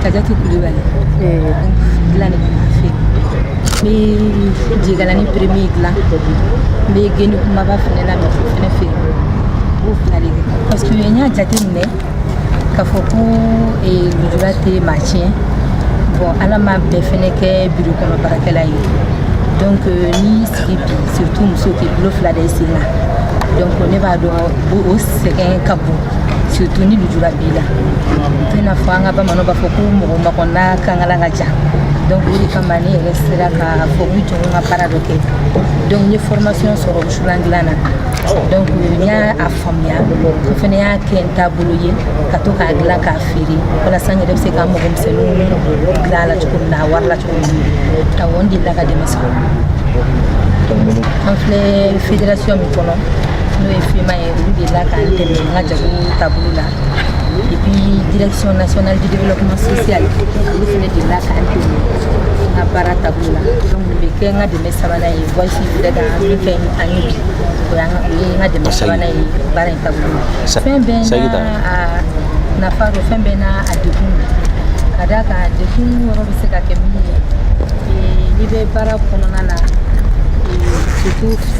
Kajatu Kulubali dilan de bɛ fɛ n bɛ jigalani premier dilan n bɛ geni kunbaba fana la mɛ fana fɛ o fila de kɛ parce que n y'a jate minɛ k'a fɔ ko lujura tɛ maa tiɲɛ bon Ala ma bɛɛ fana kɛ biro kɔnɔ baarakɛla ye donc n'i y'i sigi bi surtout muso k'i bolo fila da i sen kan donc ne b'a dɔn o sɛgɛn ka bon surtout ni lujura b'i la i tɛna fɔ an ka bamananw b'a fɔ ko mɔgɔ makɔnna kankala ka jan donc o de kama ne yɛrɛ sera k'a fɔ n jɔ n ka baara dɔ kɛ donc n ye formation sɔrɔ wusulan dilan na donc n y'a a faamuya n fana y'a kɛ n taabolo ye ka to k'a dilan k'a feere walasa n yɛrɛ bɛ se ka mago misɛnninw dilan a la cogo min na a wari la cogo min na awɔ n delila ka dɛmɛ sɔrɔ an filɛ fédération min kɔnɔ n'o ye fema ye Olu delila k'an dɛmɛ an ka jago taabolo la et puis direction nationale du développement social olu fana delila k'an dɛmɛ an ka baara taabolo la donc nin bɛ kɛ n ka dɛmɛ sabanan ye Voice yɛrɛ ka min kɛ an ye bi o y'an ka o ye n ka dɛmɛ sabanan ye baara in taabolo la fɛn bɛɛ n'a a nafa don fɛn bɛɛ n'a a degun don ka d'a kan degun yɔrɔ bɛ se ka kɛ min ye n'i bɛ baara kɔnɔna na surtout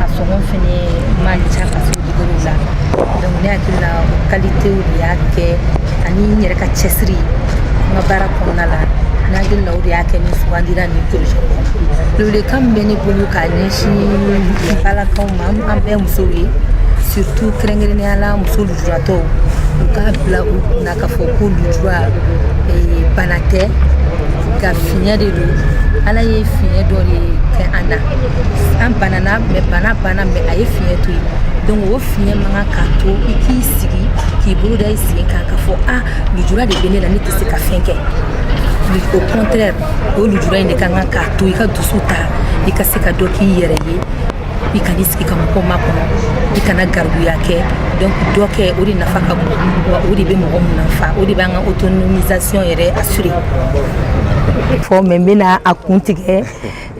a sɔngɔ fɛnɛ man ca ka se dugukolo la donc ne hakili la o qualitéw de y'a kɛ ani n yɛrɛ ka cɛsiri n ka baara kɔnɔna la n hakili la o de y'a kɛ ne sugandira nin projet kɔnɔ welekan min bɛ ne bolo k'a ɲɛsin balakaw ma an bɛɛ musow ye surtout kɛrɛnkɛrɛnnenya la muso lujuratɔw u k'a bila u kun na k'a fɔ ko lujura bana tɛ ka fiɲɛ de don ala ye fiɲɛ dɔ de kɛ an na an banana mais bana banna mais a ye fiɲɛ to yen donc o fiɲɛ man ka to i k'i sigi k'i bolo da i sen kan k'a fɔ a lujura de bɛ ne la ne tɛ se ka fɛn kɛ au contraire o lujura in de ka kan ka to i ka dusu ta i ka se ka dɔ k'i yɛrɛ ye i kana i sigi ka mɔgɔ makɔnɔ i kana garibuya kɛ donc dɔ kɛ o de nafa ka bon wa o de bɛ mɔgɔ nafa o de b'an ka autonomisation yɛrɛ assurer poème n bɛna a kuntigɛ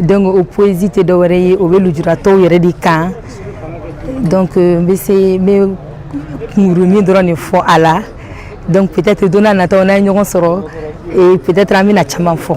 donc o poésie tɛ dɔwɛrɛ ye o bɛ lujuratɔw yɛrɛ de kan donc euh, n bɛ se n bɛ kunkurunnin dɔrɔn de fɔ a la donc peut-être don nataw n'an ye ɲɔgɔn sɔrɔ et peut-être an bɛna caman fɔ